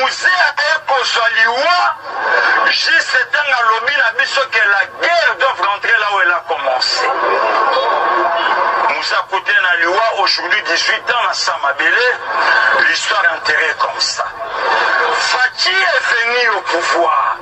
Musee aye kozwa liwa juste ntango alobi na biso que la guerre doit rentrer là où elle a commencé. Musee akuti na liwa aujourd'hui 18 ans na sans mabele, l'histoire enterrée comme ça. Fatshi est venu au pouvoir.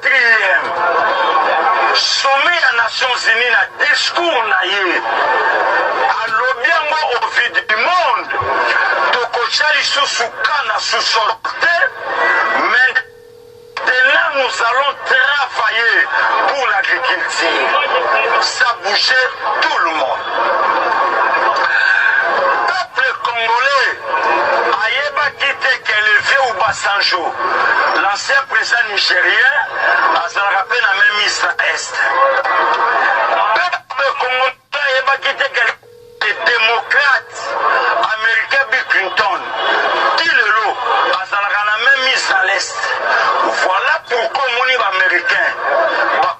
Quatrième sommet ya Nations Unies na discours na ye alobi yango au vue du monde tokotya lisusu ka na sous-sol te maintenant nous allons travailler pour l'agriculture ça bouger tout le monde Ayebaki te que le vieux Obasanjo, l'ancien president nigerien, azalaka pe na meme East na Est. Peuple congolais ayebaki te que le democrate américain Bill Clinton, ti lelo azalaka na meme East na l'Est. Voilà pourquoi omoni ba américains ba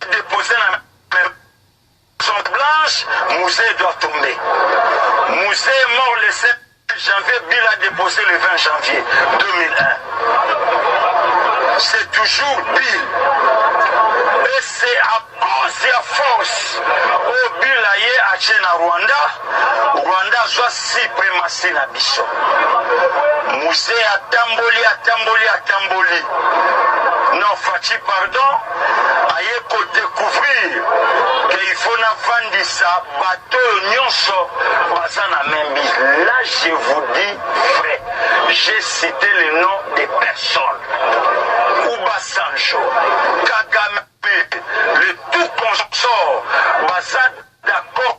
deposer na maison blanche musee doit tomber musee mort le 7 janvier bila deposer le 20 janvier 2001 c'est toujours bill et c'est à cause ya force oyo oh, bila ye atie na rwanda rwanda azwa suprematie na biso musee atamboli atamboli atamboli non faci pardon aye ko decouvrir que il faut na vandisa bato oyo nyonso baza na membi là je vous dis vrai j'ai cité le nom de personne ubasanjo kagame le tout consort baza d'accord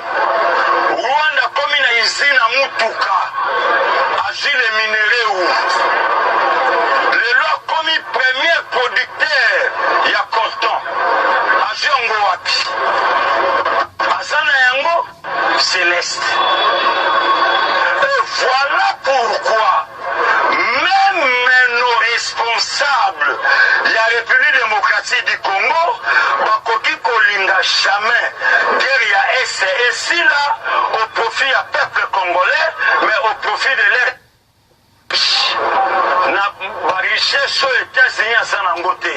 Rwanda akomi na usine ya mutuka azui le minerais ou lelo akomi premier producteur ya coltan azui yango wapi aza na yango celeste et voilà pourquoi Meme nos responsables ya Republique Democratique du Congo bakoki kolinga jamais guerre ya Est et Sila au profit ya peuple congolais mais au profit de leur na ba richesse oyo États-Unis aza nango te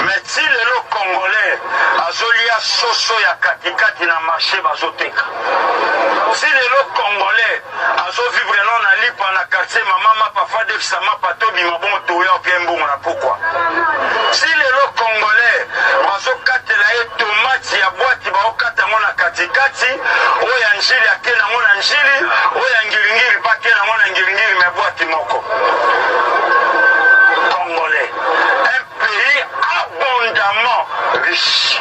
mais ti lelo congolais azolia soso ya katikati na marché bazoteka ti lelo congolais azo vivre no na lipa na quartier mama mapa fadefisa mapa tobima bongo toya opia mbongo na pokwa si lelo congolais bazokatela ye tomati ya bwati baokata yango na katikati oyo ya njili ake nango na njili oyo ya ngiringiri mpe ake nango na ngiringiri me bwati moko congolais un pays abondamment riche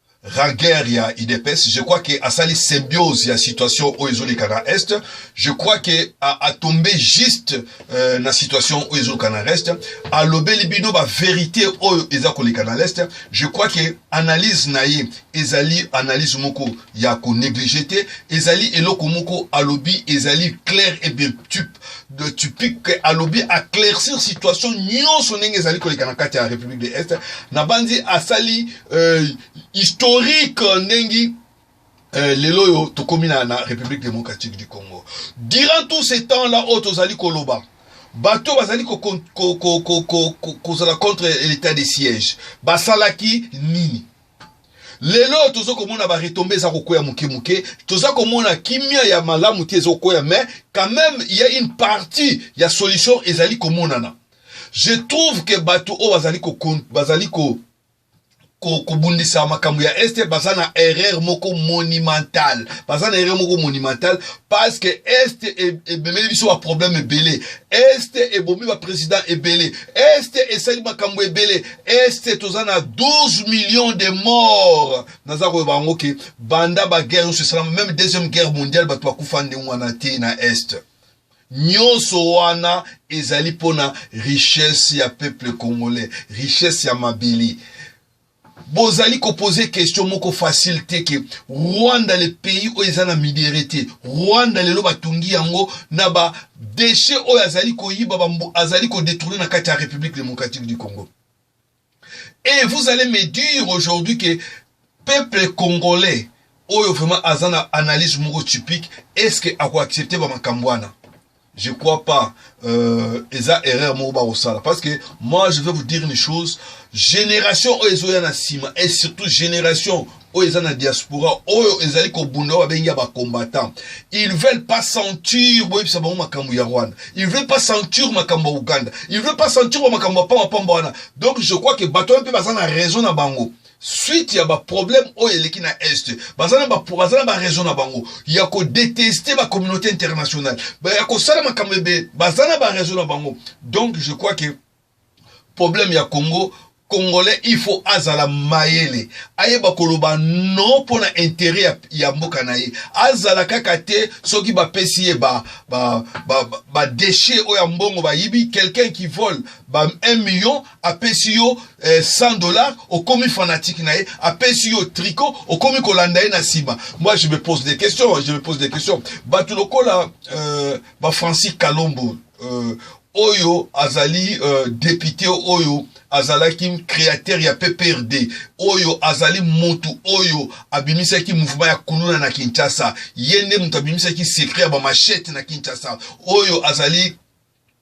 raguer ya idps je crois que asali symbiose ya situation oyo ezoleka na est je crois que atombe juste euh, na situation oyo ezoleka na reste alobeli bino baverité oyo eza koleka na leste je crois que analyse na ye ezali analyse moko ya konéglige te ezali eloko moko alobi ezali claire et bien de Tupic que alobi aclaircir situation nyonso ndenge ezali koleka na kati ya République de Est na banzi asali euh, historique ndenge euh, lelo oyo tokomi na, na République démocratique du Congo durant tout ce temps là oyo tozali koloba bato bazali kozala contre l'état de siège basalaki nini lelo tozo komona ba retombe eza kokwea moke moke toza komona kimia ya malamu te ezokwea mais quand même il y a une partie ya solution ezali komonana je trouve que bato oyo bazali ko bazali ko kobundisa makambo ya este baza na erreur moko monumentale baza na erreur moko monumentale parce que este e, ebemeli biso baproblème ebele este ebomi baprésident ebele este esali makambo ebele este toza na 12 millions de morts naza koyeba yango ke banda baguerre nyonso esalama meme deuxième guerre mondiale bato bakufa ndenge wana te na este nyonso wana ezali mpo na richesse ya peuple congolais richesse ya mabele bozali kopose question moko facile te ke rwanda le pays oyo eza na midere te rwanda lelo batungi yango na ba Dechet oyo azali koyiba bambu azali ko detourner na kati ya République démocratique du Congo. Et vous allez me dire aujourd'hui que peuple congolais oyo vraiment aza na analyse moko typique est-ce que ako accepter ba makambo wana? Je crois pas euh, eza erreur moko ba kosala parce que moi je vais vous dire une chose génération oyo ezoya na sima et surtout génération oyo eza na diaspora oyo ezali kobunda oyo babengi ya bacombattant ils veulent pas sentir boyebisa bango makambo ya rwanda ils veulent pas sentir makambo ya uganda ils veulent pas sentir ba makambo ya pambapamba wana donc je crois que bato wana mpe baza na raison na bango suite ya baproblème oyo eleki na est baza na baraison na bango ya kodeteste bacommunauté internationale ya kosala makambo ebele baza na baraison na bango donc je crois que Problème ya Congo congolais il faut azala mayele ayeba koloba non mpo na interet ya, ya mboka na ye azala kaka te soki bapesi ye ba, ba, ba, ba, ba déchet oyo ya mbongo bayibi quelqu'un qui vole ba 1 million apesi yo eh, 100 dollars okomi fanatique na ye apesi yo tricot okomi kolanda ye na nsima moi je me pose des questions je me pose des questions bato lokola euh, ba francis kalombo euh, oyo azali euh, depute oyo azalaki créateur ya pprd oyo azali motu oyo abimisaki mouvement ya kuluna na kinshasa ye nde moto abimisaki secret ya bamachete na kinshasa oyo azali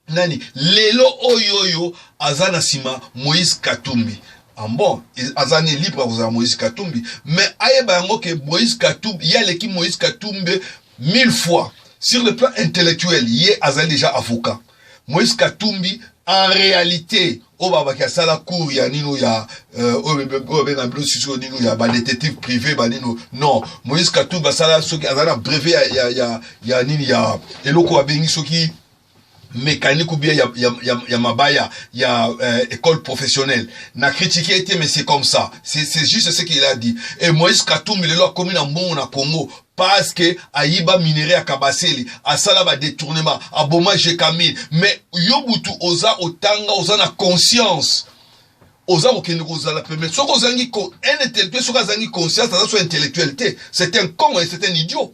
nani lelo oyo oyo aza na nsima moïse katumbi Ah bon aza ne libre akozala moïse katumbi mais ayeba yango ke moïse katumbi ye aleki moïse katumbi mille fois sur le plan intellectuel ye azali déjà avocat moïse katumbi en réalité oyo babaki asala cour ya nino ya euh, oyo babenga bino sisi oyo nino ya badétective privé banino non moïse katumbi asala soki aza na brevet ya, ya, ya, ya nini ya eloko babengi soki mécanique ou bien ya, ya, ya, ya mabaya ya euh, école professionnelle na critique ye te mais c'est comme ça c'est juste ce qu'il a dit et moïse katumbi lelo akomi na mbongo na congo parce que ayiba minerai ya kabasele asala badetournement aboma jekamil mais yo butu oza otanga oza na conscience oza kokende kozala pembe soki ozangi un intellectuel soki azangi conscience aza so intellectuel te c'est un con et c'est un idiot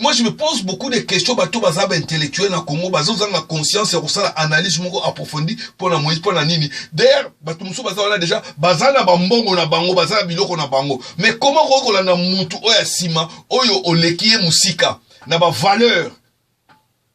Moi je me pose beaucoup de questions bato baza ba intellectuel na Congo bazozanga conscience ya kosala analyse moko approfondie mpo na Moïse mpo na nini d'ailleurs bato mosusu baza wana déjà baza na bambongo na bango baza na biloko na bango mais comment okoki kolanda mutu oyo ya nsima oyo oleki ye mosika na bavaleur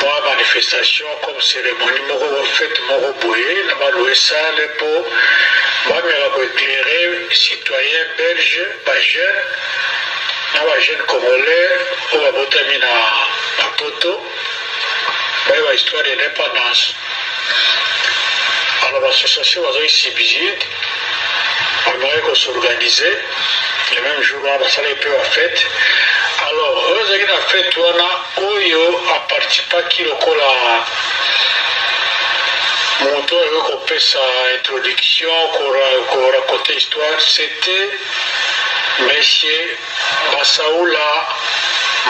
mwa manifestation comme ceremonie moko wa fete moko boye na ba loue salle mpo bameka ko eclaire citoyen belge ba jeune na ba jeune congolais oyo babotami na na poto baye ba histoire ya indépendance alors bassociation bazali subside bamekaki kosorganize le même jour wana basalaki mpe ba fete alors oyo ezalaki na fete wana oyo aparticipaki lokola moto oyo kopesa introduction koraconte histoire c'était monsieur basaula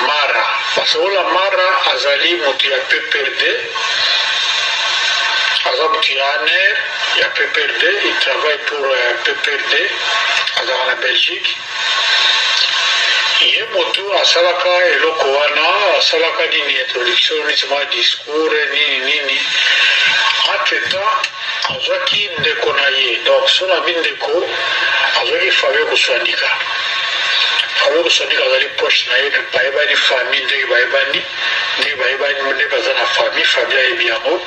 mara basaula mara azali moto ya pprd aza moto ya aner ya PPRD il travaille pour PPRD azalaka na Belgique ye motu asalaka eloko wana asalaka nini introduction neti mwa discours nini nini entre temps azwaki ndeko na ye donc so na bi ndeko azwaki fabio koswandika fabio koswandika azali poche na ye bayebani famille ndenge bayebani ndenge bayebani nde baza na famille famille ayebi yango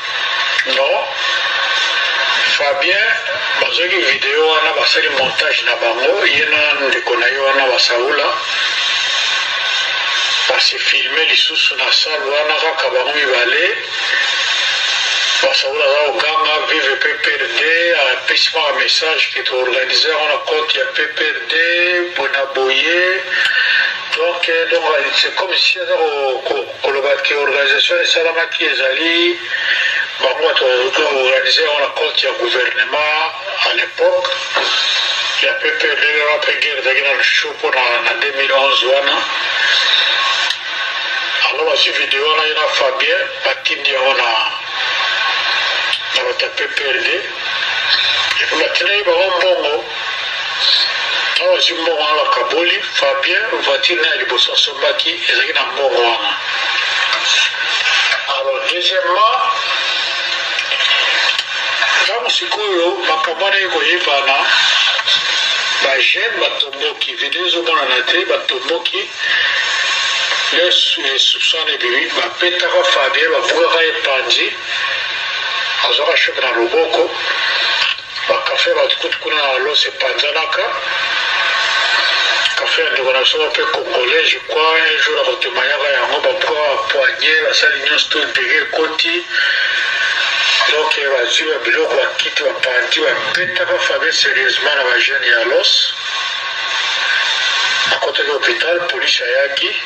Non Fabien bazwaki video wana basali montage na bango ye na ndeko na ye wana basaula basi filme lisusu na salle wana kaka bango mibale basaula aza koganga vive pprd apesi maka message ke toorganize yango na compte ya pprd mpona boye donc donc c'est comme si aza Koloba que organisation esalamaki ezali bango bato bazoki organise yango na compte ya gouvernement à l'époque ya PPRD wana mpe guerre ezalaki na lushu mpo na 2011 wana yango bazwi video wana ye na fabien batindi yango na na bato ya pprd epo batindaki bango mbongo awa ozwi mbongo wana bakaboli fabien voiture na ya liboso asombaki ezalaki na mbongo wana alors deuxièmement ntango sikoyo makambo wana ekoyebana bajeune batomboki video ezomonana te batomboki soupçon ebimi bapetaka fabien babukaka epanzi azwaka shoke na loboko Ba cafe bato kutu kuna na Los epanzanaka. Cafe ya ndeko na biso mpe congolais je crois un jour akotemanyaka yango babuka ba poignée basali nyonso to ndege ekoti donc bazwi ba biloko bakiti bapanti babetaka fabe sérieusement na bajeune ya Los akotaki hôpital police ayaki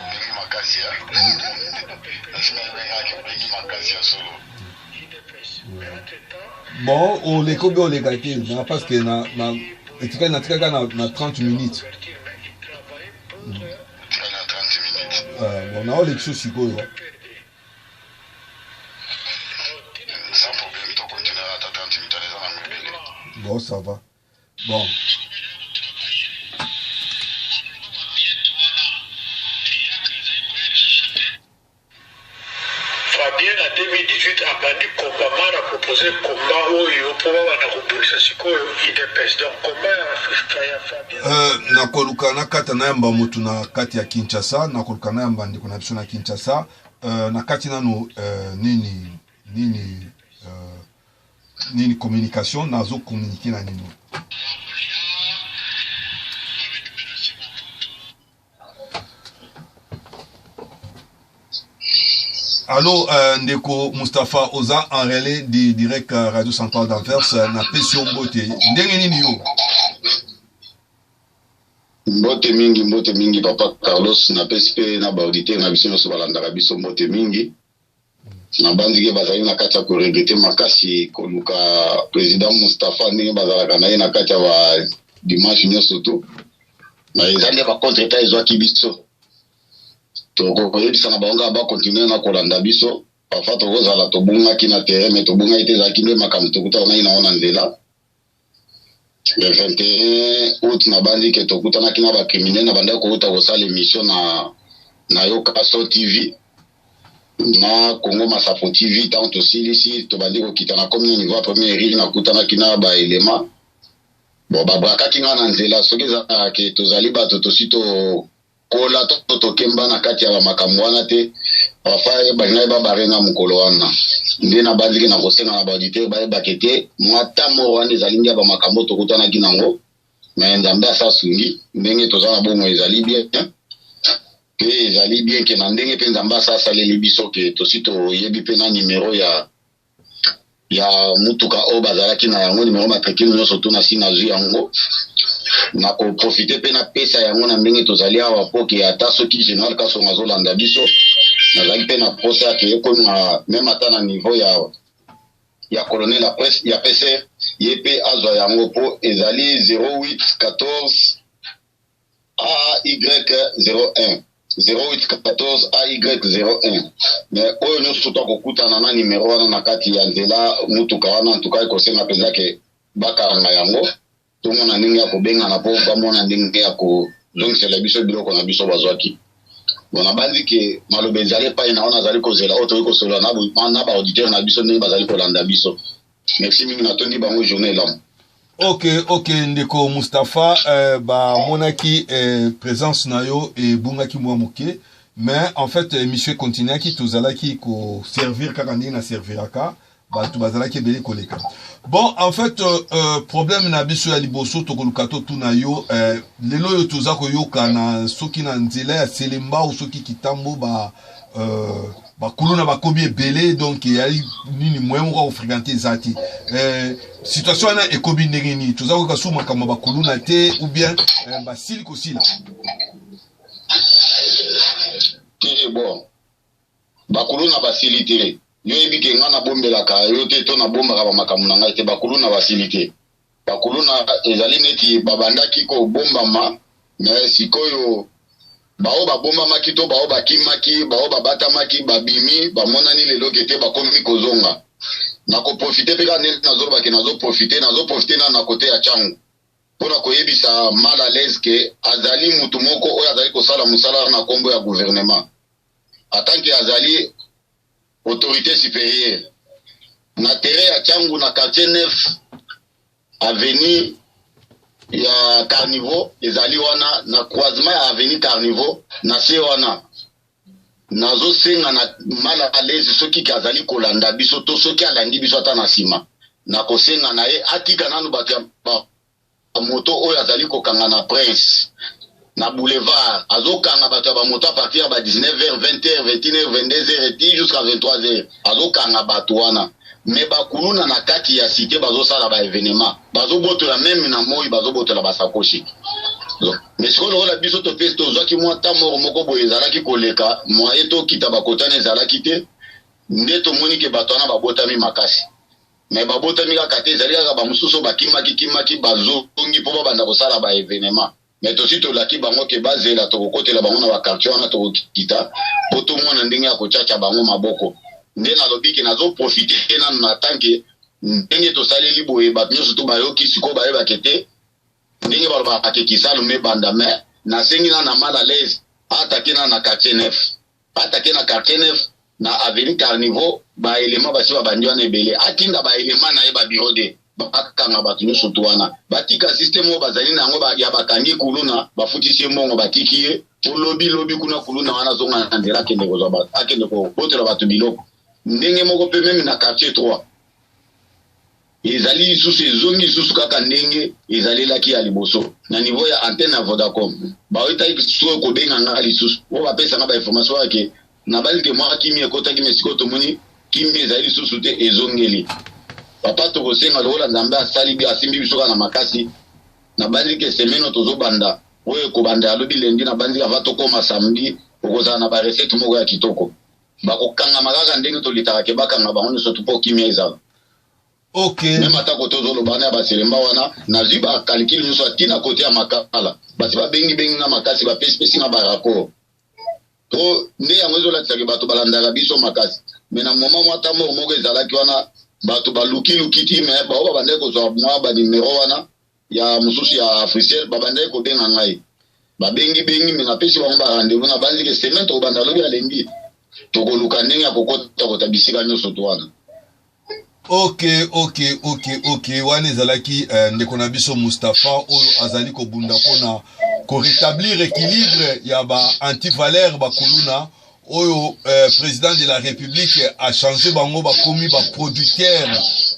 Obengi makasi ya obengi makasi ya solo bon oleka obe oleka te na parce que na na etika na tika na na 30 minutes bon na oleki so sikoyo bon ça va Bon. Fabien na 2018 abandi combat mara a propose combat oyo po babanda kobundisa sikoyo udps donc combat ya Fabien euh, nakoluka nakata nayamba motu na kati ya kinshasa nakoluka nayamba ndeko na biso na kinshasa euh, na kati nano euh, nini nini nini communication nazo communiquer na nini Allô, euh, Ndeko Mustapha Oza, en relais du direct euh, Radio Centrale d'Anvers, euh, na Pession Mbote. Ndenge nini yo? mbote mingi mbote mingi papa carlos napesi mpe na baauditeur na biso nyonso balandaka biso mbote mingi nabanzi ke bazali na kati ya koregrete makasi koluka president mustapha ndenge bazalaka na ye na kati ya ba dimanche nyonso to na eza nde bacontre ta ezwaki biso tokoyebisa na bango kaka bakontinue na kolanda biso parfois tokozala tobungaki na terrain me tobungaki te ezalaki nde makambo tokutana nai nango na nzela le 21 août nabandi ke tokutanaki na bakrimine na bandaki kouta kosala émission na na yo kaso tv na congo masapo tv ntango tosilisi tobandi kokita na komi na niveau ya premier rire nakutanaki na baelema bon babrakaki ngai na nzela soki ezalaka ke tozali bato tosi to kola to tokemba na kati ya bamakambo wana te papa balingaki babare nga mokolo wana nde nabandiki na kosenga na baauditeur bayebake te mwata moro wana ezali nde ya bamakambo tokutanaki nango me nzambe asasungi ndenge toza na bongo ezali bien mpe ezali bien ke na ndenge mpe nzambe asa asaleli biso ke tosi toyebi mpe na nimero ya ya mutuka oyo bazalaki na yango nimero matricule nyonso to nasi nazwi yango na koprofite mpe napesa yango na ndenge tozali awa mpo ke ata soki general kasonga azolanda biso nazali mpe na mposa ya keekoma meme ata na niveau ya ya colonel ya pcr ye mpe azwa yango mpo ezali 08 14 AY01 0814 AY01 mais oyo nyonso to akokutana na numero wana na kati ya nzela motuka wana antuka ekosenga mpenza ke bakanga yango tomona ndenge ya kobengana mpo bamona ndenge ya kozongisela biso biloko na biso bazwaki bon nabanzi ke maloba ezali epai na wana azali kozela oyo toyei kosolola na baauditeur na biso ndenge bazali kolanda biso Merci mingi natondi bango journée elamu. ok ok ndeko mustapha euh, bamonaki euh, présence na yo ebungaki mwa moke mais en fait émission econtinuaki tozalaki koservir kaka ndenge na serviraka bato bazalaki ebele koleka bon en fait euh, euh, problème na biso ya liboso tokoluka totuna yo euh, lelo oyo toza koyoka na soki na nzela ya selembao soki kitambo ba euh, bakuluna bakomi ebele donc eyali nini moyen moko ya kofrequente eza te eh, situation wana ekomi ndenge nini toza koyoka suku makambo ya bakuluna te ou bien eh, basili kosila te bon bakuluna basili te yo yebi ke ngai nabombelaka yo te to nabombaka bamakambo na ngai te bakuluna basili te Bakuluna ezali neti babandaki kobombama me sikoyo baoyo babombamaki to baoyo bakimaki baoyo babatamaki babimi bamonani lelo kete bakomi kozonga nakoprofite mpe kaka nde nazolobake nazoprofite nazoprofite na na kote ya cango mpo na koyebisa mal à l'aise ke azali motu moko oyo azali kosala mosala na nkombo ya gouvernement atanke azali Autorite superieur na terrain ya Changu na quartier 9 avenue ya Carniveau ezali wana na croisement ya avenue Carniveau na se wana nazosenga na mal à l'aise soki ke azali kolanda biso to soki alandi biso ata na nsima nakosenga na ye atika nanu bato ya moto oyo azali kokanga na prince na boulevard azokanga bato ya bamoto a partir ya ba 19 heures 20 heures 21 heures 22 heures eti jusqu'à 23 heures azokanga bato wana me bakuluna na kati ya site bazosala ba evenement bazobotola meme na moi bazobotola basakoshi me sikoyo lokola biso topesi tozwaki mwa ta moko moko boye ezalaki koleka mwaye tokita bakotana ezalaki te nde tomoni ke bato wana babotami makasi mais babotami kaka te ezali kaka bamosusu bakimaki kimaki bazongi mpo babanda kosala ba evenement mais tosi tolaki bango ke bazela tokokotela bango na bakartier wana tokokita mpo tomona ndenge ya kocaca bango maboko nde nalobi ke nazoprofite nanu na tanke ndenge tosaleli boye bato nyonso to bayoki sikoyo bayebake te ndenge balobaka ke kisalu mebanda mais nasengi na na mal alaise atake na na quartier nef Atake na quartier neuf na avenue Carnivaux ba element basi babandi wana ebele, atinda ba element na ye ba bureau de bakanga bato nyonso to wana batika systeme oyo bazali na yango ya bakangi kuluna bafutisi ye mbongo batiki ye po lobi lobi kuna kuluna wana azonga na nzela akende kozwa bato akende kobotela bato biloko ndenge moko mpe meme na quartier 3 ezali lisusu ezongi lisusu kaka ndenge ezalelaki ya liboso na niveau ya antenne ya vodacom baoyetaki sikoyo kobenga nga lisusu oyo bapesanga bainformation yake nabali te mwa kimi ekotaki me sikoyo tomoni kimi ezali lisusu te ezongeli papa tokosenga lokola nzambe asali bi asimbi biso kaka na makasi nabandi ke semeno tozobanda oyo ekobanda ya lobi lendi nabandi ava tokoma samedi okozala na barecette moko ya kitoko bakokangama kaka ndenge tolitaka ke bakanga bango nyonso tu mpo kimia ezala okay. meme atako tozoloba wana ya baselemba wana nazwi bakalkile nyonso atina kote ya makala basi babengibengi nga makasi bapesipesi nga baraport to nde yango ezolatisa ke bato balandaka biso makasi me na moma mwa ta moko moko ezalaki wana bato balukiluki ti me bao babandaki kozwa mwa banimero wana ya mosusu ya africel babandaki kobenga ngai babengi bengi me napesi bango barendez-vous nabanzi ke semaine tokobanda lobi alembi tokoluka ndenge ya kokota kota bisika nyonso to wana ok ok ok ok wana ezalaki eh, ndeko na biso mustapha oyo azali kobunda mpona koretablir équilibre ya ba antivaleur bakuluna oyo eh, president de la republique achange bango bakomi baproducteur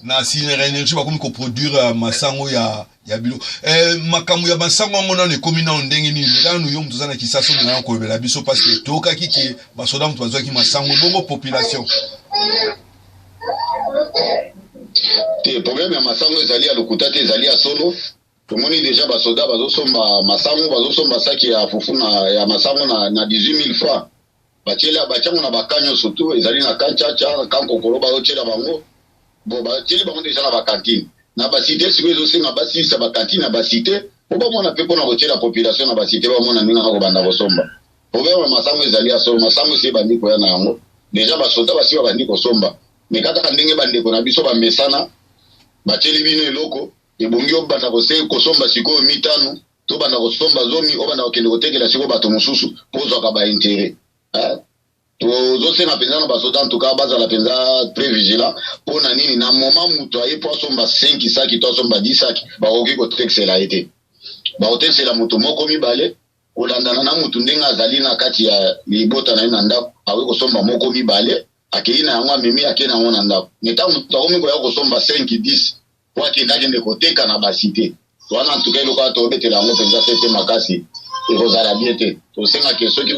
na sinera energie bakomi koproduire eh, masango ya ya bilo eh, makambo ya masango yango nano ekomi nano ndenge nini nano yo moto oza na kisasa oyo nano koyebela biso parce que toyokaki ke basoda moto bazwaki masango bongo population te problème ya masango ezali ya lokuta te ezali ya solo tomoni deja basoda bazosomba masango bazosomba saki ya fufu na ya masango na, na 18000 francs batiela batiango na bakan nyonso tu ezali na kan caca kan kokolo bazotiela bango bo batieli bango deja na bakantine na basite sikoyo ezosenga basilisa bakantine ya basite mpo bamona mpe mpona kotiela population na basite bamona ndenge na kobanda kosomba problème ya masango ezali ya solo masango esi ebandi koya na yango deja basoda basi babandi kosomba me kaka ndenge bandeko na biso bamesana batieli bino eloko ebongi obanda kose kosomba sikoyo mitano tobanda kosomba zomi obanda kokende kotekela sikoyo bato mosusu mpo ozwaka baintere eh? tozosenga mpenza na basoda ntuka bazala mpenza très vigilant mpo na nini na moma moto aye mpo asomba 5 saki to asomba 10 saki bakoki kotekisela ye te bakotekisela moto moko mibale kolandana na moto ndenge azali na kati ya libota na ye na ndako akoki kosomba moko mibale akei na yango amemi akei na yango na ndako me ntango moto akomi koya kosomba 5 10 po akende akende koteka na ba cite wana antuka eloko wana tobetela yango mpenza fete makasi ekozala bien te tosenga ke soki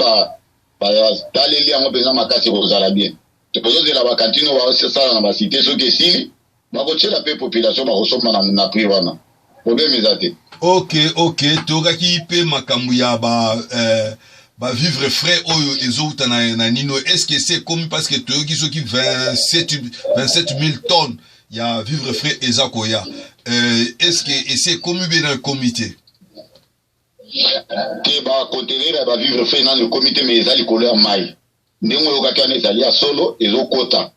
bataleli yango mpenza makasi ekozala bien tozozela bakantine oyo basala na basite soki esili bakotyela mpe population bakosomba na prix wana problème eza te ok ok tokaki mpe makambo ya ba eh, bavivre frais oyo ezowuta na, na nino est ce que se ekomi parce que toyoki soki 27 000 tonnes ya vivre frais eza koya euh, est ce que esi ekomi bie na ekomi te te bakontenere ya bavivre frais nano ekomi te me eza likolo ya mai ndenge oyokaki wana ezali ya solo ezokota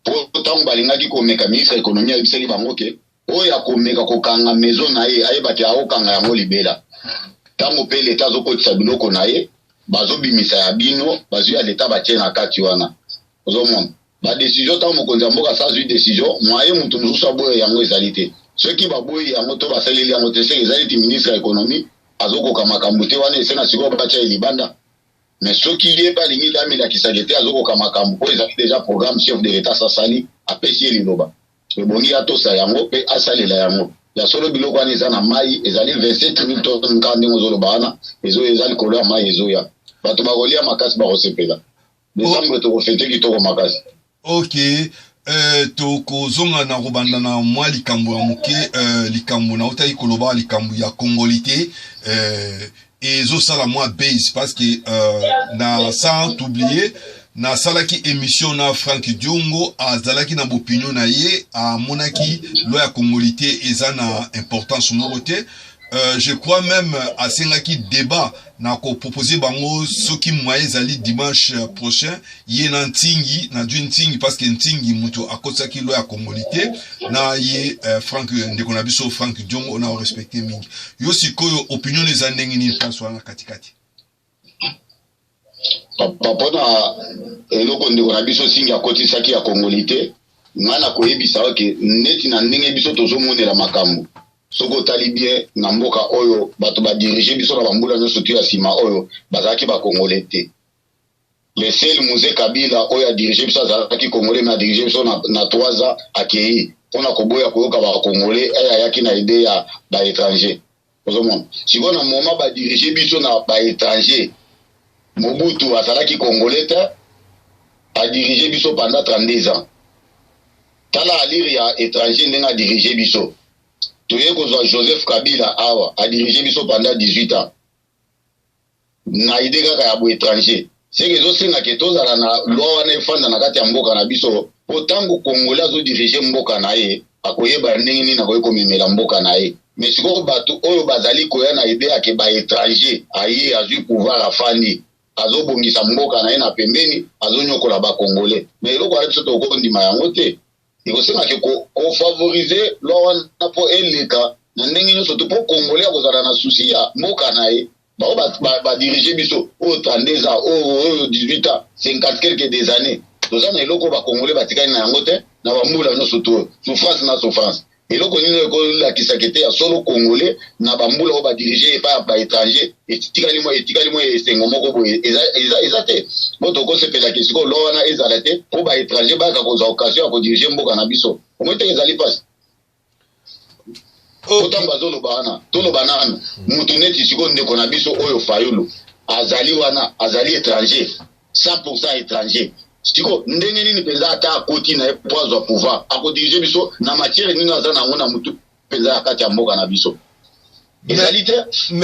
mpo ntango balingaki komeka ministre ya ekonomi ayebisaki bango ke oyo akomeka kokanga maison na ye ayeba te akokanga yango libela ntango mpe leta azokotisa biloko na ye bazobimisa ya bino bazwi ya leta batie na kati wana ozomona badecision ntango mokonzi ya mboka asazwi decision mwaye moto mosusu aboya yango ezali te soki baboyi yango to basaleli yango te soki ezali ti ministre ya ekonomi azokoka makambo te wana esenga sikoyo batya ye libanda me soki ye mpe alingi te amilakisaka te azokoka makambo mpo ezali deja programme chef de l'etat sasali apesi ye liloba ebongi atosa yango mpe asalela yango ya solo biloko wana eza na mai ezali 27 mille tonnes nka ndenge ozoloba wana ezo eza likolo ya mai ezoya bato bakolia makasi bakosepela Decembre toko fete kitoko makasi. Ok, euh, tokozonga na kobanda na mwa likambo ya moke euh, likambo nautaki koloba likambo ya congolite euh, ezosala mwa base parce que euh, na sans oublier nasalaki émission na frank diongo azalaki na bopinion na ye amonaki loi ya congolite eza na importance moko te euh, je crois même asengaki débat na ko proposer bango soki moyen ezali dimanche euh, prochain ye na ntingi na jui ntingi parce que ntingi moto akotisaki loi ya kongoli te na ye euh, frank euh, ndeko na biso frank diongo ona orespecte mingi yo sikoyo opinion eza ndenge nini place wana katikati papa mpona eloko ndeko na biso singi akotisaki ya kongoli te ngai nakoyebisa oke neti na ndenge biso tozomonela makambo soki otali bien na mboka oyo bato ba dirige biso na bambula nyonso tu ya nsima oyo bazalaki bakongole te le sel muse kabila oyo adirige biso azalaki kongole me adirige biso na, na 3 ans akei mpo na koboya koyoka bakongole eye eh, ayaki na ide ya baétranger ozomona sikoyo na moma badirige biso na baétranger mobutu azalaki kongole te adirige biso pendant 32 ans Tala alire ya etranger ndenge a dirige biso. Toye kozwa Joseph Kabila awa a dirige biso pendant 18 ans. Na idee kaka ya bo etranger. Seke ezosenga ke tozala na loi wana efanda na kati ya mboka na biso mpo ntango kongole azodirige mboka na ye akoyeba ndenge nini akoki komemela mboka na ye me sikoyo bato oyo bazali koya na ide yake baetranger aye azwi pouvoir afandi azobongisa mboka na ye na pembeni azonyokola bakongole na eloko wana biso tokondima yango te ekosengaki kofavorize lwa wana mpo eleka na ndenge nyonso to mpo kongole akozala na susi ya mboka na ye bango badirige biso oyo 32 ans oyo 18 ans 50 quelque des années toza na eloko bakongole batikali na yango te na bambula nyonso to souffrance na souffrance eloko nini ekolakisa kete ya solo congolais na bambula oyo badirige epai ya baétranger etikali mwa etikali mwa esengo moko boye eza te mpo tokosepelaki sikoyo lwa wana ezala te mpo baétranger bayaka kozwa occasion ya kodirige mboka na biso omoi te ezali mpasi oh. otango bazoloba wana toloba nanu motu neti sikoyo ndeko na biso oyo fayulu azali wana azali étranger 100 pourcent etranger siko ndenge nini mpenza ata akoti na ye mpo azwa pouvoir akodirige biso na matière nini aza na yango na motu mpenza ya kati ya mboka na biso ezali te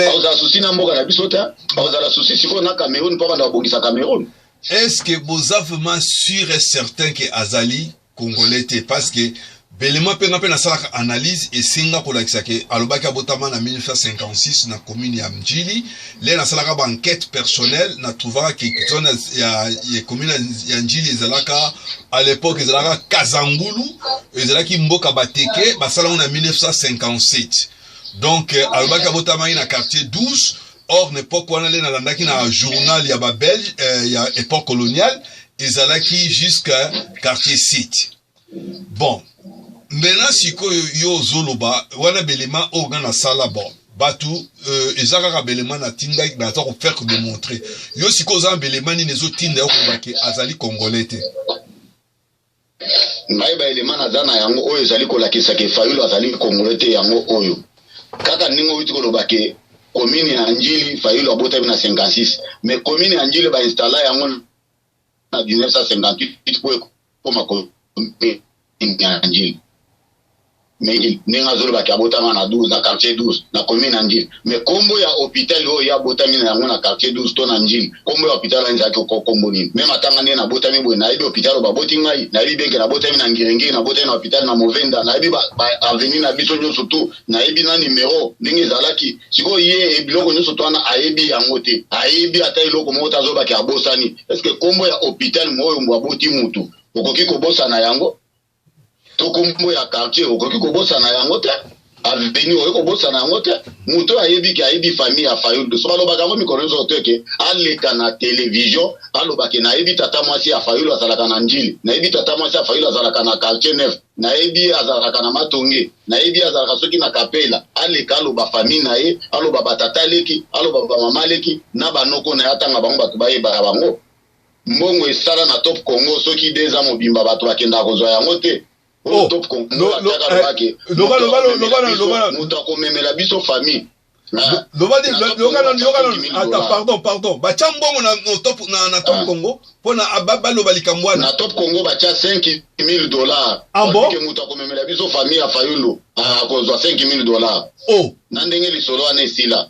akozala susi na mboka na biso te akozala susi sikoyo na cameroun mpo abanda kobongisa cameroun est ce que boza vraiment sûr et certain ke azali congolais te parce que belema mpe nga mpe nasalaka analyse esenga kolakisa ke alobaki abotama na 1956 na commune ya mjili le nasalaka baenquête personnelle na trouvaka ke zone ya, ya commune ya njili ezalaka à l'époque ezalaka kazangulu ezalaki mboka bateke basalango na 1957 donc euh, alobaki abotamaki na quartier 12 or na epoque wana nde nalandaki na journal ya ba belge eh, ya epoque coloniale ezalaki jusqu'à quartier site bon maintenant sikoyo yo ozoloba wana belema oyo nga nasala bon bato euh, eza kaka belema natindaki naza kofaire kodemontre yo sikoyo oza na belema nini ezotinda yo koloba ke azali congolais te Ngai ba element naza na yango oyo ezali kolakisa ke Fayulu azali kongole te yango oyo kaka ndenge owiti koloba ke commune ya Njili Fayulu abotami na 56 mais commune ya Njili ba installa yango na 1958 po ekoma commune ya Njili mingi ndenge azolobaki abotama na 12 na quartier 12 na commune na ndjili me kombo ya hôpital oyo ye abotami na yango na quartier 12 to na ndjili kombo ya hôpital wana ezalaki kombo nini me matanga nde nabotami boye nayebi hôpital oyo baboti ngai nayebi benke nabotami na ngiringiri nabotami na hôpital na movenda nayebi baavenue na biso nyonso to nayebi na numero ndenge ezalaki sikoyo ye e biloko nyonso to wana ayebi yango te ayebi ata eloko moko te azobaki abosani estce kombo ya hôpital moyo aboti mutu okoki kobosana yango to kombo ya quartier okoki kobosana yango te aveni oyo kobosana yango te moto oyo ayebi ke ayebi famille ya fayulu so balobaka yango mikolo nyonso te ke aleka na televizio aloba ke nayebi tata mwasi ya fayulu azalaka na njili nayebi tata mwasi ya fayulu azalaka na quartier neuf nayebi azalaka na matonge nayebi azalaka soki na kapela aleka aloba famille na ye aloba batata leki aloba bamama leki na banoko na ye atanga bango bato bayebaka bango mbongo esala na top congo soki deux ans mobimba bato bakendaka kozwa yango te oyo oh, top congo eh, atiaka lobake moto akomemela biso famille ah, pardon pardon batya mbongo na top ah. congo mpo na ah, baloba likambo wana na top congo batya 5 000 dollar ke moto akomemela biso famille ya fayundo akozwa 5 000 dollar oh. na ndenge lisolo wana esila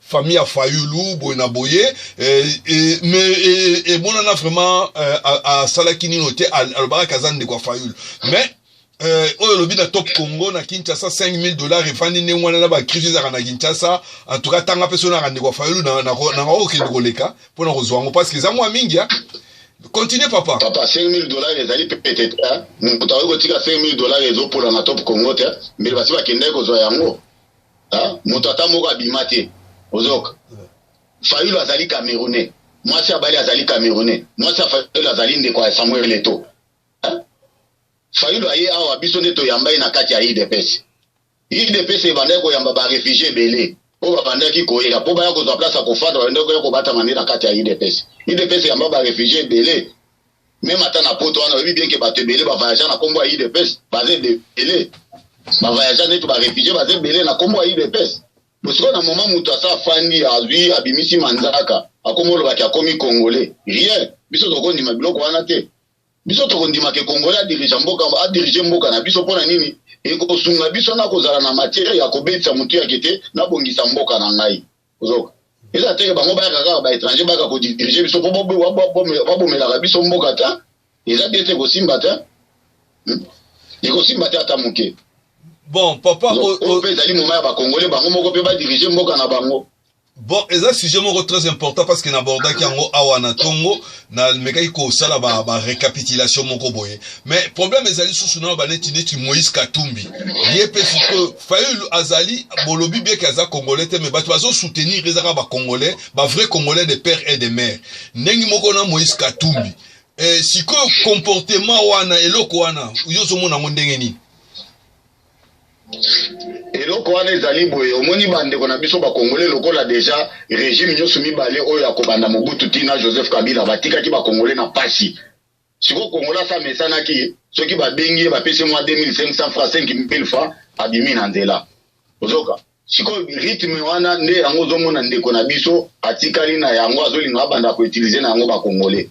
famille ya fayulu boye na boye eh, eh, mais eh, emonana vraiment asalaki nino te alobaka kaza ndeko ya fayulu mais oyo olobi na top congo na kinshasa 5000 dollars efandi ndenge wana na bakristo ezalaka na kinshasa antuka tanga mpe soki naka ndeko ya fayulu nanga okende koleka mpo na kozwa yango parceke eza mwa mingi ya continue papa papa 5000 dollars ezali pete te moto akoki kotika 5000 dollars ezopona na top congo te mbele basi bakendaki kozwa yango moto ata moko abima te ozoka fayulu azali camerounais mwasi abali azali camerounais mwasi ya fayulu azali ndeko ya samuel leto fayulu aye awa biso nde toyamba ye na kati ya idps idps ebandaki koyamba barefugie ebele mpo babandaki koyela mpo baya kozwa place ya kofanda babandaki koya kobatama nde na kati ya idps idps yamba barefugie ebele Meme ata na poto wana oyebi bien ke bato ebele ba voyagea na kombo ya udps baza ebele ba voyagea neti ba refugie baza ebele na kombo ya udps bosiko na moma moto asa afandi azwi abimisi manzaka akomi olobaki akomi congolais rien biso tokondima biloko wana te biso tokondima ke congolais adirige mboka adirige mboka na biso mpo na nini ekosunga biso na kozala na matiere ya kobetisa motu yake te nabongisa mboka na ngai ozoka eza teke bango bayaka kaka baétranger bayaka kodirige biso mpo babomelaka biso mboka ta eza bien te kosimba ta hmm? ekosimba te ata moke bon papa oyo mpe ezali moma ya bakongole bango moko mpe badirige mboka na bango bon eza sujet moko très important parce que nabordaki yango awa na ntongo namekaki kosala barécapitulation ba moko boye mais problème ezali susu na baneti neti moïse katumbi ye mpe sikoyo Fayulu azali bolobi bien que aza congolais te mais bato bazo soutenir ezaka ba congolais ba vrai congolais de père et de mère ndenge moko na Moïse Katumbi eh, sikoyo comportement wana eloko wana yo ozomona yango ndenge nini eloko wana ezali boye omoni bandeko na biso bakongole lokola deja regime nyonso mibale oyo akobanda mobutu ntina joseph kabila batikaki bakongole na mpasi siko kongola sa mesanaki soki babengi ye bapesi mwa 2500 francs 5000 francs abimi na nzela ozoka sikoyo rythme wana nde yango ozomona ndeko na biso atikali na yango azolinga abanda koutilize na yango bakongole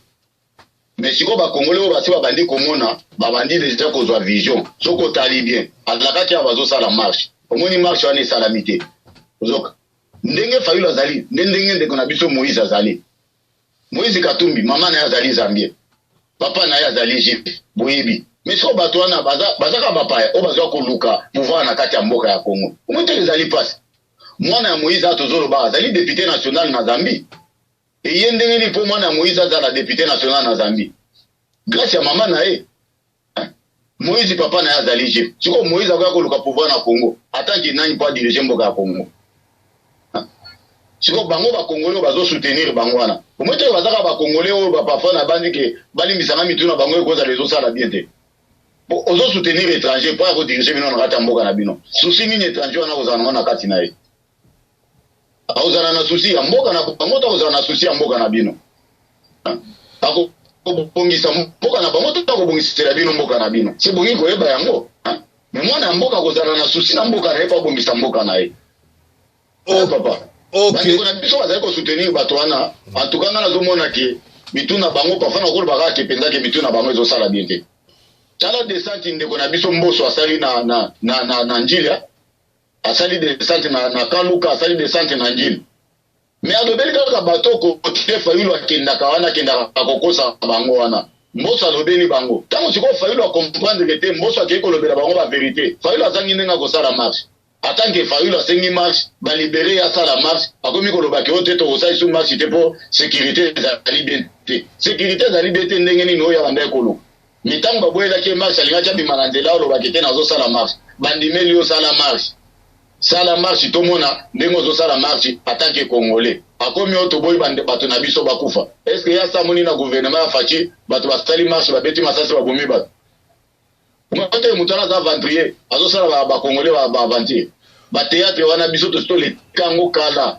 me sikoyo bakongole oyo basi babandi komona babandi deja kozwa vision soki otali bien alakaki awa bazosala marche omoni marche wana esalami te ozoka ndenge fayulu azali nde ndenge ndeko na biso moïse azali Moïse Katumbi mama na ye azali Zambien, papa na ye azali juif, boyebi mais soko bato wana bazaka bapaya oyo bazwa koluka pouvoir na kati ya mboka ya Congo, omoteli ezali mpasi. Mwana ya Moïse ato zoloba azali depute national na Zambie, eye ndenge nini mpo mwana ya Moïse azala depute national na Zambie? Grace ya mama na ye Moïse papa na ye azali je sikoyo Moïse akoya koluka pouvoir na Congo atanke nani mpo adirige mboka ya Congo sikoyo bango bakongole oyo bazosoutenir bango wana omoi te bazaka bakongole oyo baparfoi na banzi ke balimbisanga mitu na bango ekozala ezosala bien te ozosoutenir étranger mpo ya kodirige bino na kati ya mboka na bino susi nini étranger wana kozala nango na kati na ye akozala na susi ya mboka na bango to akozala na susi ya mboka na bino akobongisa mboka na bango to akobongisela bino mboka na bino se bongi koyeba yango me mwana ya mboka akozala na susi na mboka na ye mpo abongisa mboka na ye o oh, papa bandeko na biso bazali kosoutenir bato wana antuka ngai nazomona ke mitu na bango parfois nakoloba kaka ke mpenza ke mitu na bango ezosala bien te tala desante ndeko na biso mboso asali na, na, na, na, na njilia asali desante na, na kaluka asali desante na ngini me alobeli kaka bato okotie fayulu akendaka wana akendaka akokosa bango wana mboso alobeli bango ntango sikoyo fayulu akomprendre te mboso akei kolobela bango baverité fayulu azangi ndenge akosala marche atanke fayulu asengi marche balibere ye asala marche akomi koloba ke o te tokosalisi marche te mpo sécurité ezali bien te sécurité ezali bien te ndenge nini oyo abandaki koluka Mais tango ba boyelaki ye marche alingaki abima na nzela alobaki te nazo sala marche. Bandimeli yo sala marche. Sala marche tomona ndenge ozo sala marche ata ke congolais. Akomi oyo toboyi bato na biso bakufa. Est ce que ya samoni na gouvernement ya Fatshi bato basali marche babeti masasi babomi bato. Mote moto wana aza aventurier azo sala ba congolais ba aventure. Ba theatre wana biso tosi toleka yango kala.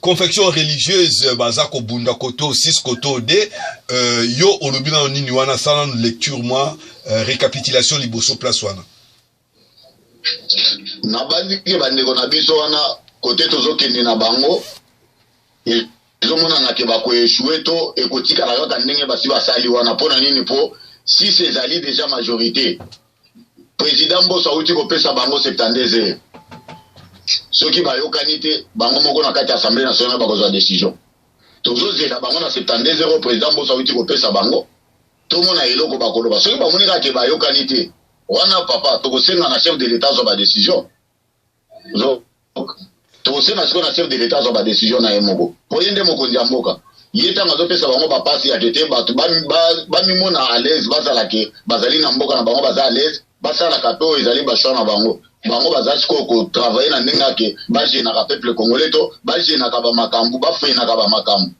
confection religieuse baza kobunda koto 6 koto 2 euh, yo olobi nano nini wana sala nanu lecture mwa euh, récapitulation liboso place wana nabandiki bandeko na biso wana kote tozokende na bango e, ezomonana ke bakoeshue to ekotikala kaka ndenge basi basali wana mpo na nini mpo sisi ezali deja majorité president mboso awuti kopesa bango 72 heures soki bayokani te bango moko na kati ya assemblée nationale bakozwa décision tozozela bango na 72 heures president mboso awuti kopesa bango tomona eloko bakoloba soki bamoni kaka te bayokani te wana papa tokosenga na chef de l'état azwa badécision tokosenga sikoyo na chef de l'etat azwa badecision na ye moko mpo ye nde mokonzi ya mboka ye ntango azopesa bango bapasi ya kete bato bamimona ba, ba alaise bazala ke bazali na mboka na bango baza alaise basalaka mpe oyo ezali bashoi na bango bango baza sikoyo kotravaille na ndenge yake bagenaka peuple congolais to bagenaka bamakambo bafeinaka bamakambo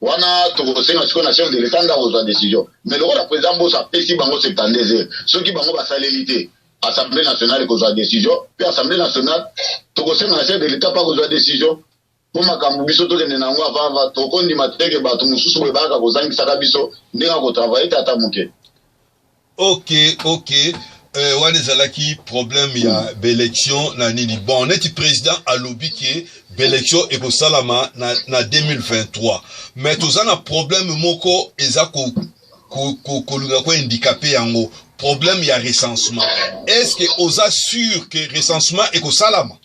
wana tokosenga sikoyo na chef de l'etat nde akozwa decision mais lokola président mboso apesi bango 72 heures soki bango basaleli te assemblée nationale ekozwa decision mpe assemblée nationale tokosenga na chef de l'etat mpe akozwa decision mpo makambo biso tokende na yango avava tokondima teke bato mosusu boye bayaka kozangisaka biso ndenge akotravaille te ata moke ok ok euh, wana ezalaki problème ya baélection na nini bon neti président alobi ke baélection ekosalama na, na 2023 mais toza na problème moko eza ko kolinga ko, ko, ko handicapé yango problème ya recensement est ce que oza sûr que recensement ekosalama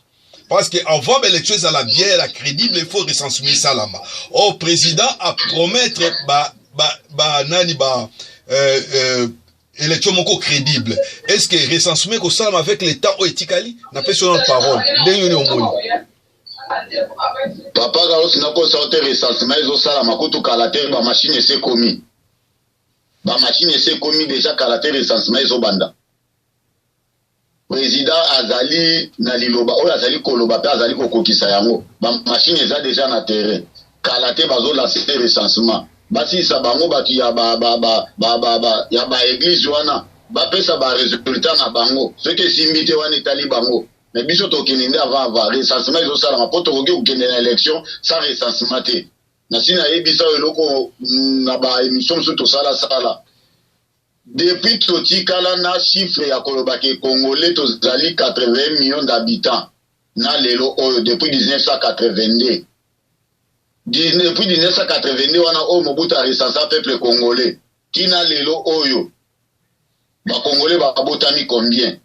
Parce que avant ba élection ezala bien la crédible il faut recensement esalama. Or président a promettre ba ba ba nani ba euh, euh, élection moko crédible. Est-ce que recensement ekosalama avec le temps oyo etikali? Napesi yo na parole. Ndenge nini omoni? Papa Carlos nakosa yo te recensement ezosalama kutu kala te ba machine esi ekomi. Ba machine esi ekomi deja kala te recensement ezobanda. president azali na liloba oyo azali koloba mpe azali kokokisa yango bamashine eza deja na terrain kala te bazolanse recensement basilisa bango bato ya baeglize wana bapesa baresultat na bango soki esimbi te wana etali bango me biso tokende nde avant avant recensement ezosalama mpo tokoki kokende na élection sans recensement te nasi nayebisa oyo eloko mm, na baémission mosusu tosalasala Depuis totikala n'a chiffre ya koloba ke congolais tozali 81 millions d'habitants n'a lelo oyo depuis 1982 depuis 1982 wana oyo Mobutu a recensa peuple congolais tina lelo oyo ba congolais babotami combien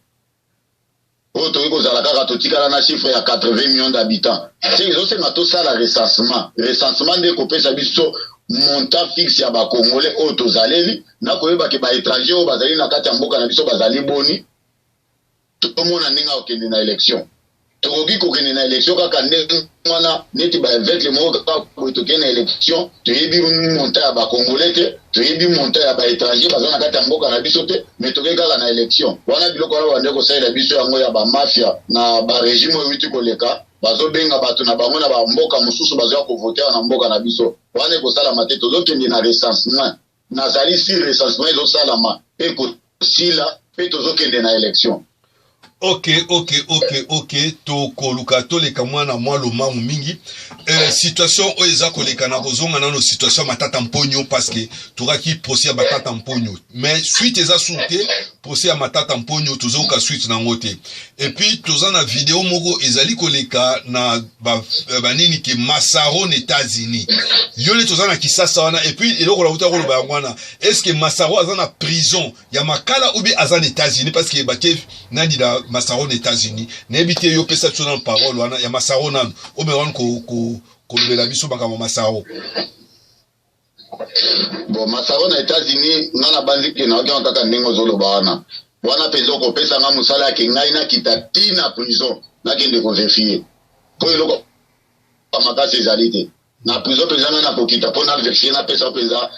oyo tokoki kozala kaka totikala na chiffre ya 80 millions d'habitants ce ezosenga tosala recensement recensement nde ekopesa biso montant fixe ya bacongolais oyo tozaleli na koyeba ke baétranger oyo bazali na kati ya mboka na biso bazali boni tomona ndenge akokende na élection tokoki kokende na elektio kaka ndenge wana neti baevekle moko kaka boye tokende na elektio toyebi monta ya bacongolais te toyebi monta ya baétranger baza na kati ya mboka na biso te mai tokei kaka na elektio wana biloko wana bande kosalela biso yango ya bamafia na baregime oyo euti koleka bazobenga bato na bango na bamboka mosusu bazoya kovotewa na mboka na biso wana ekosalama te tozokende na recensement Nazali sur recensement ezosalama pe kosila pe tozokende na election. Ok, ok, ok, ok, tokoluka toleka mwana mwa lomangu mingi. Euh, situation oyo eza koleka na kozonga nano situation ya matata mponyo parce que tokaki procès ya batata mponyo. Mais suite eza sur te procès ya matata mponyo tozoyoka suite na ngo te epuis toza na video moko ezali koleka na banini ke masaro na états-unis yo neti oza na kisasa wana epuis eloko na kuta koloba yango wana estce masaro aza na prison ya makala oubie aza na états-unis parce que bake nani na masaro na états-unis nayebi te yo pesa biso nano parole wana ya masaro nano omeka wani kolobela biso makambo masaro Bon, masaro na Etats-Unis nga na banzi ke nayoki yango kaka ndenge ozoloba wana wana mpenza okopesa nga mosala yake ngai nakita ti na prison nakende koverifie mpo eloko makasi ezali te na prison mpenza ngai nakokita mpo na verifie napesa mpenza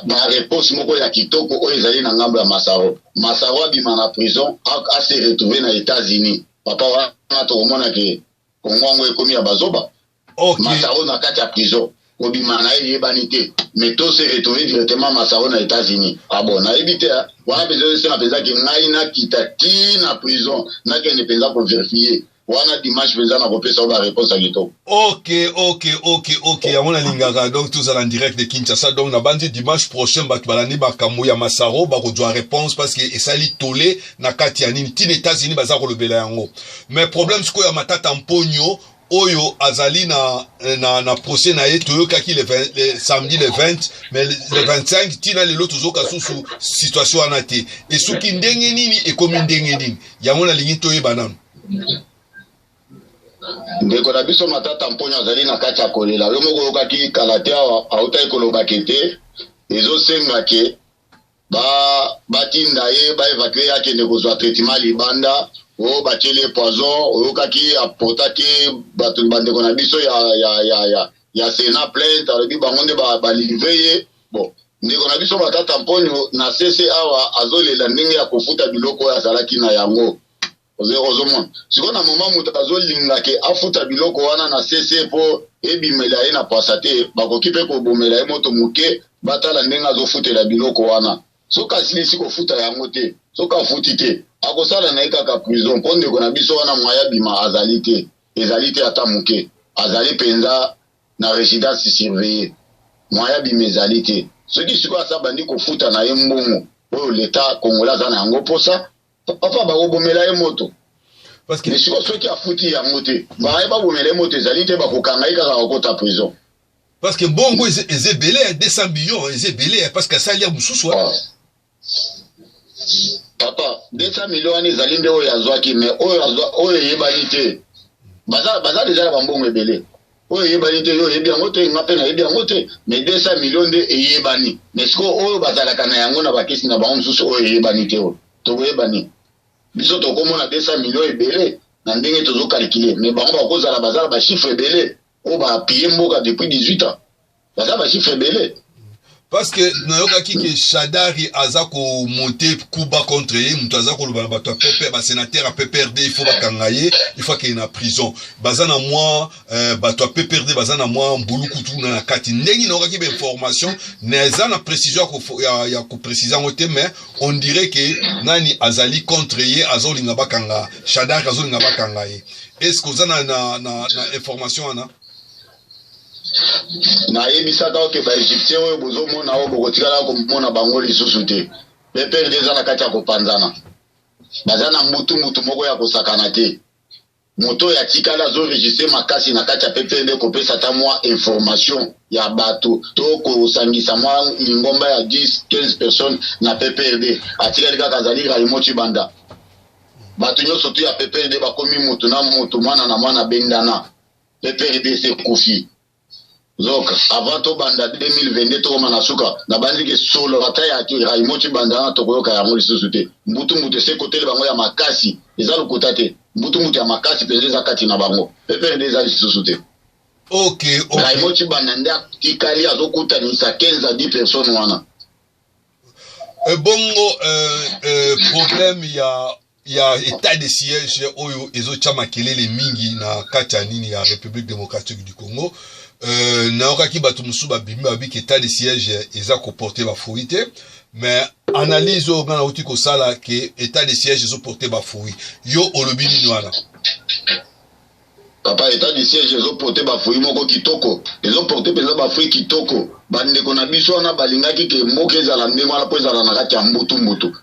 bareponse moko ya kitoko oyo ezali na ngambo ya masaro masaro abima na prison ase retrouve na Etats-Unis papa wana tokomona ke kongo yango ekomi ya bazoba Okay. Masaro na kati ya prison kobima na ye eyebani te mais to se retrouve directement masaro na états-unis ah bon nayebi te hein. wana mpenza esenga mpenza ke ngai nakita ti na prison nakende mpenza koverifie wana dimanche mpenza nakopesa yo bareponse ya kitoko ok ok ok ok yango nalingaka donc tozala en direct de kinshasa donc nabanzi dimanche prochain bato balandi makambo ya masaro bakozwa réponse parce que esali tole na kati ya nini ntina états-unis baza kolobela yango mais problème sikoyo ya matata mponio oyo azali na, na, na procès na ye toyokaki le, le samedi le 20 mais le, le 25 ntina lelo tozoka susu situation wana te esuki ndenge nini ekomi ndenge nini yango nalingi toyeba nano ndeko na biso matata mponyo azali na kati ya kolela yo moko oyokaki kala te awa autaki kolobake te ezosenga ke ba batinda ye ba evacue ye akende kozwa traitement libanda oyo oh, batyeli ye poison oyokaki oh, aportaki bato bandeko na biso ya, ya, ya, ya, ya sena plainte alobi bango nde balivre ye bon ndeko na biso matata mponyo na sese awa azolela ndenge ya kofuta biloko oyo azalaki na yango ozomona sikoyo na moma moto azolinga ke afuta biloko wana na sese mpo ebimela ye na pasa te bakoki mpe kobomela ye moto moke batala ndenge azofutela biloko wana soki asilisi kofuta yango te soki afuti te akosala na ye kaka prison mpo ndeko na biso wana mwaya bima azali te ezali te ata moke azali mpenza na residence surveille mwaya bima ezali te soki sikoyo asa bandi kofuta na ye mbongo oyo leta kongola aza na yango mposa papa bakobomela ye moto parce que siko soki afuti yango te baye babomela ye moto ezali te bakokanga ye kaka akota prison parce que bongo eza ebele ya 200 millions eza ebele ya parce que asali ya mosusu wana papa 200 millions wana ezali nde oyo azwaki mais oyo eyebani te baza deja na bambongo ebele oyo eyebani te yo oyebi yango te nga mpe nayebi yango te mais 200 million nde eyebani mais sikoyo oyo bazalaka na yango na bakisi na bango mosusu oyo eyebani te oyo tokoyebani biso tokomona 200 million ebele na ndenge tozokalkile mais bango bakozala bazala bachiffre ebele oyo bapille mboka depuis 18 ans baza ba chiffre ebele parce que nayokaki ke shadari aza komonte kuba contre ye moto aza koloba na bato ya pepere basénateur ya pprd il faut bakanga ye il faut akende na prison baza na mwa euh, bato ya pprd baza na mwa mbulukutu na na kati ndenge nayokaki bainformation naza na précision ya, ya koprécise yango te mais on dirait ke nani azali contre ye azolinga bakanga shadari azolinga bakanga ye est ce que oza na, na, na, na information wana nayebisaka yo ke baegyptien oyo bozomona oyo bokotikala komona bango lisusu te bprd eza na kati ya kopanzana baza na mbutu mbutu moko ya kosakana te moto oyo atikali azoregistre makasi na kati ya pprd kopesa ata mwa information ya bato to kosangisa mwa lingomba ya 10 15 personnes na pprd atikali kaka azali raimo cibanda bato nyonso tu ya pprd bakomi motu na motu mwana na mwana bendana Pepe RDC ekufi. Donc avant tobanda 2022 tokoma na suka nabanzi ke solo ata ya Raymond Tshibandana tokoyoka yango lisusu te mbutu mbutu ese kotele bango ya makasi eza lokuta te mbutu mbutu ya makasi mpenza eza kati na bango pepende eza lisusu te okay, okay. Raymond Tshibanda nde atikali azokutanisa 15 a 10 personnes wana ebongo euh, euh, problème ya ya etat de siège oyo ezotya makelele mingi na kati ya nini ya république démocratique du congo euh, nayokaki bato mosusu babimi babiki etat de siège eza koporte bafruit te mais analyse oyo ngai nauti kosala ke etat de siège ezoporte bafruit yo olobi nini wana papa etat de siège ezoporte bafruit moko kitoko ezoporte mpenza bafruit kitoko bandeko na biso wana balingaki ke mboka ezala ndenge wana mpo ezala na kati ya mbutumbutu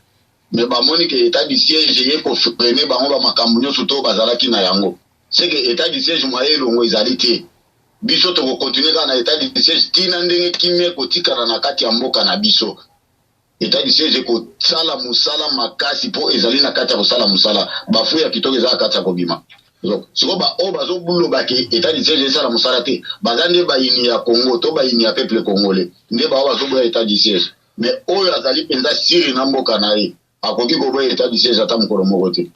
mais bamoni ke etat du siège eye kofrene bango ba makambo nyonso to bazalaki na yango seke etat du siège mwa elongo ezali te biso tokokontinue kaka na etat du siège ntina ndenge kimia ekotikala na kati ya mboka na biso etat du siège ekosala mosala makasi mpo ezali na kati ya kosala mosala bafu ya kitoko eza na kati ya kobima sikoyo baoyo oh, bazobloba ke etat du siège esala mosala te baza nde bayini ya congo to bayini ya peuple congolais nde baoyo oh, bazoboya etat du siège me oyo azali mpenza siri na mboka na ye akoki koboya etat du siège ata mokolo moko te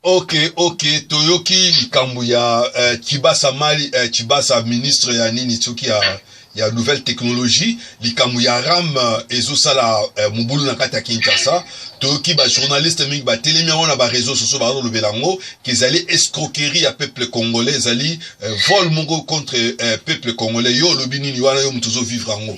ok ok toyoki likambo ya uh, kibasa mali uh, eh, kibasa ministre ya nini soki ya, ya nouvelle technologie likambo ya ram uh, eh, ezosala uh, mobulu na kati ya kinshasa toyoki bajournaliste mingi batelemi yango na bareseau sociaux bazolobela yango kezali escroquerie ya peuple congolais ezali uh, vol moko contre uh, peuple congolais yo olobi nini wana yo moto ozovivre yango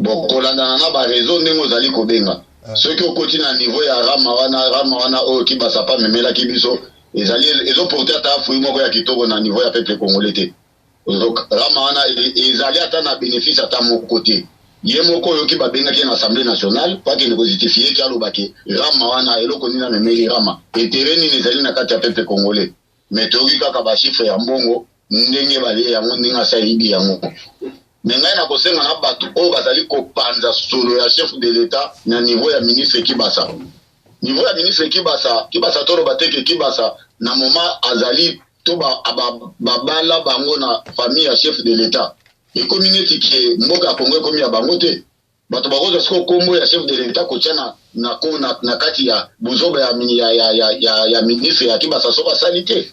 Bo kolandana na ba reseaux ndenge ozali kobenga. Ah. Soki okoti na niveau ya Rama wana, Rama wana oyo Kibasapa memelaki biso, ezali ezo porter ata fruit moko ya kitoko na niveau ya peuple congolais te. Donc Rama wana e, ezali ata na bénéfice ata moko te. ye moko oyoki babengaki ye na assemblée nationale po akende kojutifie ki aloba ke rama wana eloko nini amemeli rama etere nini ezali na kati ya peuple congolais mais toyoki kaka ba chiffre ya mbongo ndenge balie yango ndenge asi ayibi yango me ngai nakosenga na bato oyo bazali kopanza solo ya chef de l'etat na niveau ya ministre kibasa niveau ya ministre kibasa kibasa toloba te ke kibasa na moment azali to babala bango na famille ya chef de l'etat ekomi neti ke mboka ya kongo ekomi ya bango te bato bakozwa sikoyo nkombo ya chef de l'etat kotya na, na, na, na kati ya buzoba ya, ya, ya, ya, ya, ya ministre ya kibasa soki asali te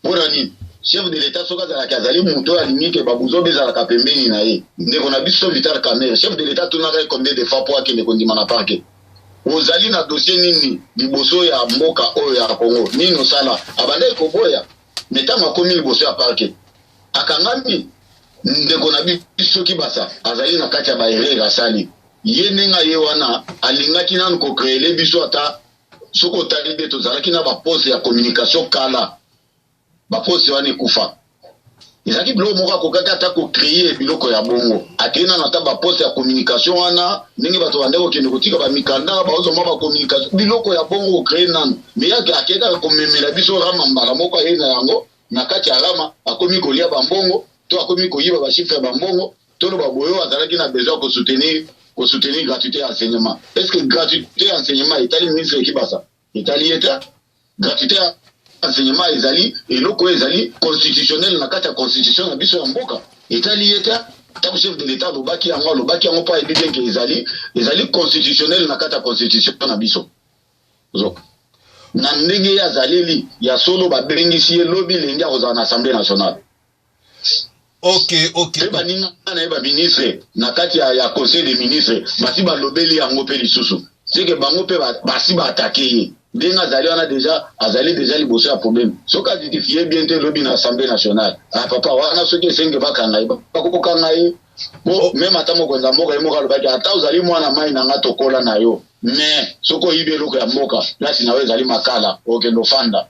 mpo na nini chef de l'etat soki azalaki azali moto oyo alingi ke babuzoba ezalaka pembeni na ye ndeko na biso vital camere chef de l'etat atunaka ye combien de fois mpo akende kondima na parke ozali na dossier nini liboso ya mboka oyo ya congo nini osala abandaki koboya me ntango akomi liboso ya parke akangami ndeko na biso kibasa azali na kati ya baerere asali ye ndenge aye wana alingaki nanu kocreele biso ata soki otali nde tozalaki na bapose ya communication kala bapose wana ekufa ezalaki biloko moko akokaki ata kocreye biloko ya bongo akei nano ata baposte ya communication wana ndenge bato bandaki kokende kotika bamikanda baozwa mwa bacommunication biloko ya bongo kocreye nano me yake akei kaka komemela biso rama mbala moko ayei na yango na kati ya rama akomi kolia bambongo to akomi koyiba bashifre ya bambongo toloba boyo azalaki na besoin ya kosoutenir kosoutenir gratuité ya enseignement est ce que gratuité ya enseignement etali ministre ekibasa etali ye te gratuité ya enseignement ezali eloko oyo ezali constitutionnel na kati ya constitution na biso ya mboka etali ye te ntango chef de l'etat alobaki yango alobaki yango mpo ayebi te ke ezali ezali constitutionnel na kati ya constitution na biso zoka na ndenge ye azaleli ya solo babengisi ye lobi lenge akozala na assemblée nationale Okay, okay. Pe baninga na ye baministre na kati ya, ya conseil des ministres basi balobeli yango mpe lisusu seke bango mpe basi baatake ye ndenge azali wana deja azali deja liboso ya probleme soki azitifie bien te lobi na assemblée nationale ah papa wana soki esenge bakanga ye bakokanga ye po meme ata mokonzi ya mboka ye moko alobaki ata ozali mwana mai na nga tokola na yo mais soki oyibi eloko ya mboka place na yo ezali makala okende ofanda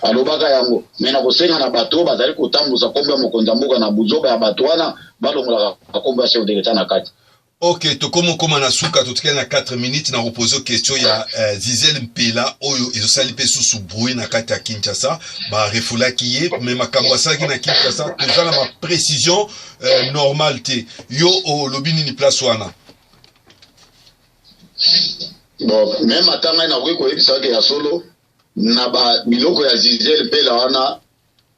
alobaka yango me na kosenga na bato oyo bazali kotambusa nkombo ya mokonzi ya mboka na buzoba ya bato wana balongolaka nkombo ya chef de l'etat na kati ok tokomi okoma na suka totikali na 4 minutes na kopose question ya uh, zizel mpela oyo ezosali mpe susu brui na kati ya kinshasa barefulaki ye me makambo asalaki na kinshasa toza na baprécision euh, normal te yo olobi oh, nini place wana bon meme ata ngai nakoki koyebisaka ya solo na ba biloko ya zizel mpela wana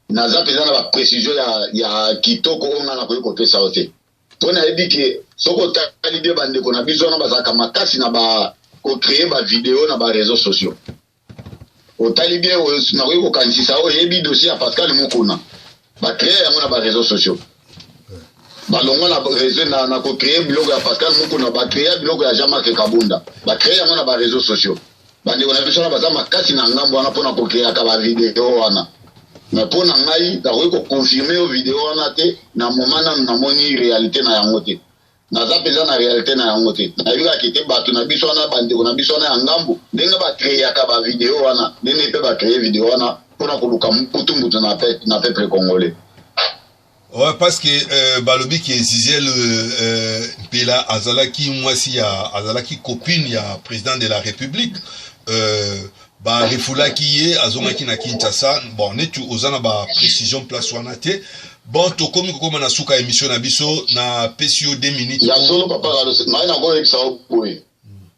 naza mpenza na baprécision ya, ya kitoko oyo ngai nakoki kopesa yo te mpo nayebi ke soki otali bie bandeko na biso wana bazalaka makasi na ba kocreye bavideo na bareseau sociaux Otali bien oyo nakoki kokanisisa oyo eyebi dossier ya Pascal Mukuna bacree yango na bareseau sociaux balongwa na reseau na, na kocree biloko ya pascal mukuna bacrea biloko ya jean marc kabunda bacree yango na bareseau sociaux bandeko na biso wana baza makasi na ngambo wana mpona kokreaka bavideo wana me mpo na ngai nakoki koconfirme yo video wana te na moma nanu namoni realite na yango te naza mpenza na realite na yango te nayebikaki te bato na biso wana bandeko na biso wana ya ngambo ndenge bacreaka bavideo wana ndenge mpe bacreye video wana mpo na koluka mbutumbutu na peuple congolais Ouais, parce que euh, balobi ke Zizel euh, euh, Mpela azalaki mwasi ya azalaki copine ya président de la République euh, ba refoulaki ye azongaki na Kinshasa bon neti oza na ba precision place wana te bon tokomi kokoma na suka emission na biso na pesi yo 2 minutes ya solo papa Carlos mai nakoyebisa yo boye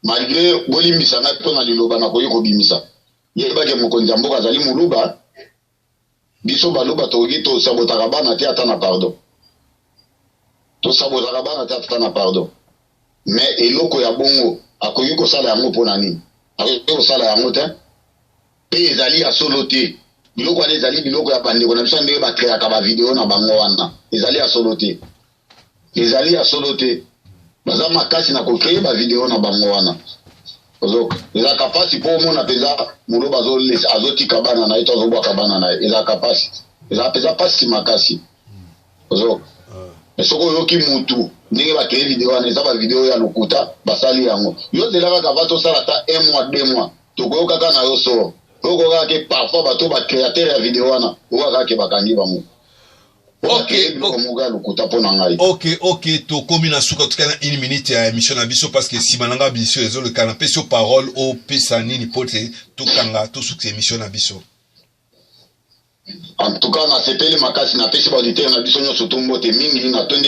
malgré bolimbisa ngai mpo na liloba nakoki kobimisa yebake mokonzi ya mboka azali moluba biso baluba tokoki tosabotaka bana te ata na pardon tosabotaka bana te ata na pardon me eloko ya bongo akoki kosala yango mpo na nini akoki kosala yango te mpe ezali ya solo te biloko wana ezali biloko ya bandeko na biso ndenge bakreaka bavideo na bango wana ezali ya solo te ezali ya solo te baza makasi na kocree bavideo na bango wana ozoka ezalaka mpasi mpo omona mpenza moloba azotika bana na ye to azobwaka bana na ye ezalaka mpasi ezalaka mpenza mpasi makasi ozoka ah. soki oyoki mutu ndenge bakei video wana eza bavideo ya lokuta basali yango yo zela kaka va tosala ata un mois deux mois tokoyoka kaka na yo soro oyo kokaka ke parfois bato bacreateur ya video wana oyo kaka ke bakangi bango Ok, ok, ok, tokomi na suka tika na une minute ya émission na biso parce que sima nanga biso ezo le kana peso parole au pesa nini pote tokanga to suka émission na biso. En tout cas na sepeli makasi na pesi ba auditeur na biso nyoso to mbote mingi na tondi